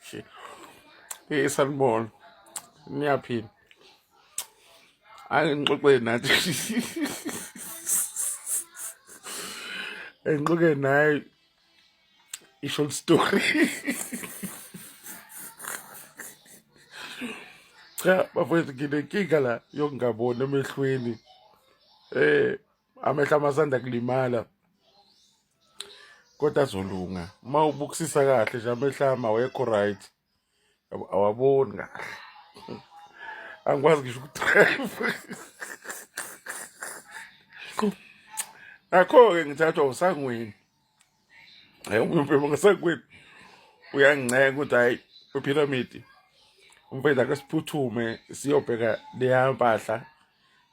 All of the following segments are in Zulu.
Shit. Hey sanibona. Niyaphila. Angixoxe nathi. Engixoxe naye i-short story. Cha bafethu nginenkinga la yokungaboni emehlweni. Eh amehla amasanda kulimala kodwa azolunga uma ubukisisa kahle nje amehlama awekho right awaboni kahle angikwazi ngisho ukudrive nakho-ke ngithathwa usangweni hayi umfethu ngasekwethu uyanginceka ukuthi hayi uphiramidi umfethu ake siphuthume siyobheka leya mpahla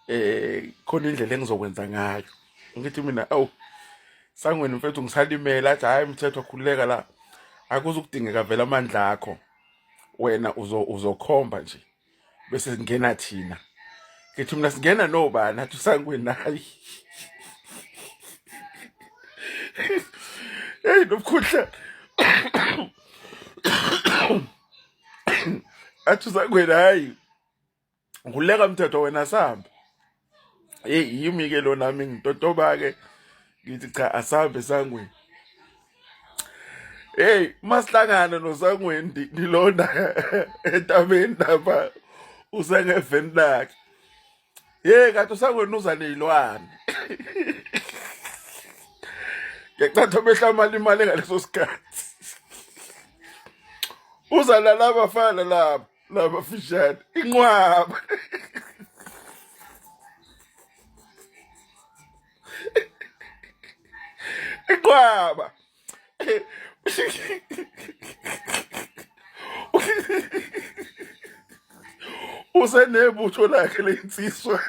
eh khona indlela engizokwenza ngayo ngithi mina awu sangweni mfethu ngisalimela athi hayi mthetho khululeka la akuzukudingeka vele amandla akho wena uzokhomba nje bese ngena thina ngithi mina singena nobani athi usangwenayi eyi nobukhudla athi usangwenayi nguleka mthetho wena sihamba hey yimi ke lo nami ngitotoba ke ngithi cha asambe sangweni hey masihlangana nosangweni nilonda entabeni lapha usengeveni lakhe hey kanti usangweni uza nezilwane ngecatha behlamala imali ngaleso sikhathi uzalala abafana lapho laba fishane inqwaba inqwaba usenebutho lakhe lensizwa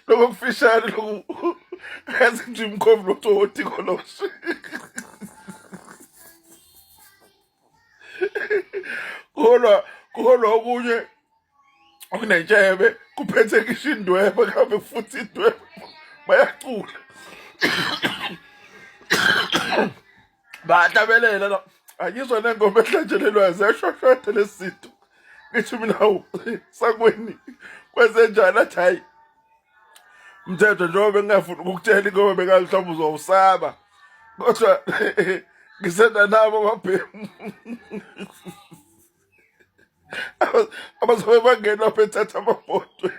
lokho kufishane lokhu azi nje umkhovu lototi koloshe kuholwa kuholwa okunye okunentshebe kuphethe ngisho indwebe kambe futhi indwebe bayacula bahlabelela la angizwa nengoma ehlanjelelwayo ziyashwashwatha lesi zinto ngithi mina sakweni kwenzenjani athi hhayi mthetho njengoba bengingafuni ukukutshela ingoba bengazi mhlawumbe uzowusaba kodwa ngisenda nabo ababhemu abazobe bangenwa bethatha amabhodwe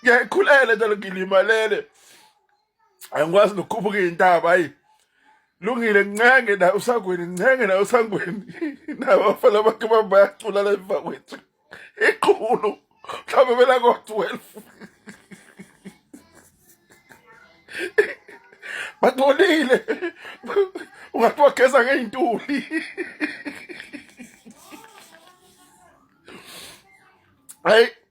ngiyayikhulele njalo ngilimalele angikwazi nokukhuphuka iy'ntaba ayi lungile ncenge naye usangweni ncenge naye usangweni nabafana bakhe bami bayacula la emva kwethu iqhulu mhlawumbe belako-twelve bangcolile ungathi wageza ngey'ntuli hayi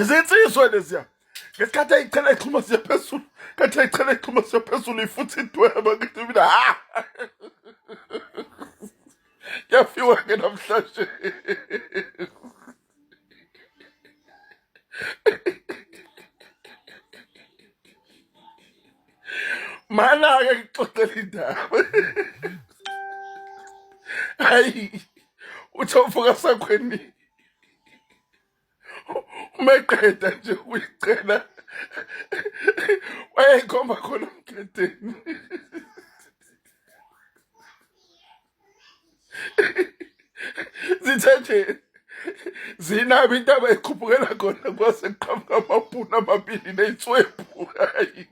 izinsizwe leziya ngesikhathi ayichela ixhuma siya phezulu kathi ayichela ixhuma siya phezulu ifuthi idweba ngithi mina ha yafiwa ke namhlanje mana ke ngixoxela indaba hayi uthi uvuka sakhweni uma eqeda nje ukuyicela wayeyikhomba khona umgedeni zithe nje zinabo into abayikhuphukela khona kwase kuqhamuka amabhunu amabili neyitswebhu hayi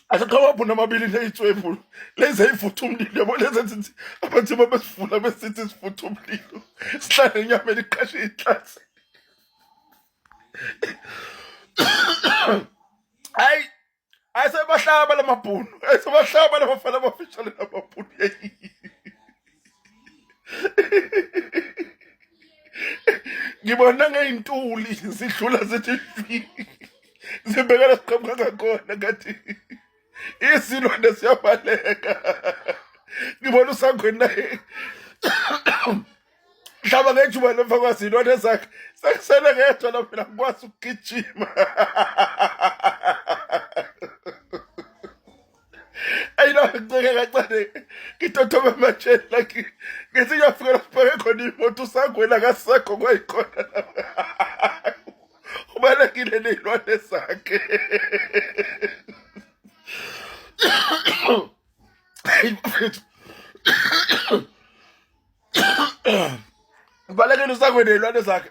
akaqhawaphuna amabili leyitswebhu lezi ayivutha umlilo yabo lezi ezithi abathi uma besivula besithi sivutha umlilo sihlale inyama eliqashe ihlase hayi ayisebahlaba la mabhunu ayisebahlaba la bafana abafishane la mabhunu ngibona ngey'ntuli zidlula zithi sibhekana siqhamuka ngakhona ngathi isilwane siyabaleka ngibona usangweni naye mhlaba ngejuba lemva kwasilwane zakhe sekusele ngedwa la phela ngikwazi ukugijima ayinaceke kancane ngitothoma ematsheni la ngithi ngiyafika lapho bheke khona imoto usangwena kasekho kwayikhona ubalekile ney'lwane zakhe ubalekile usangwena ney'lwane zakhe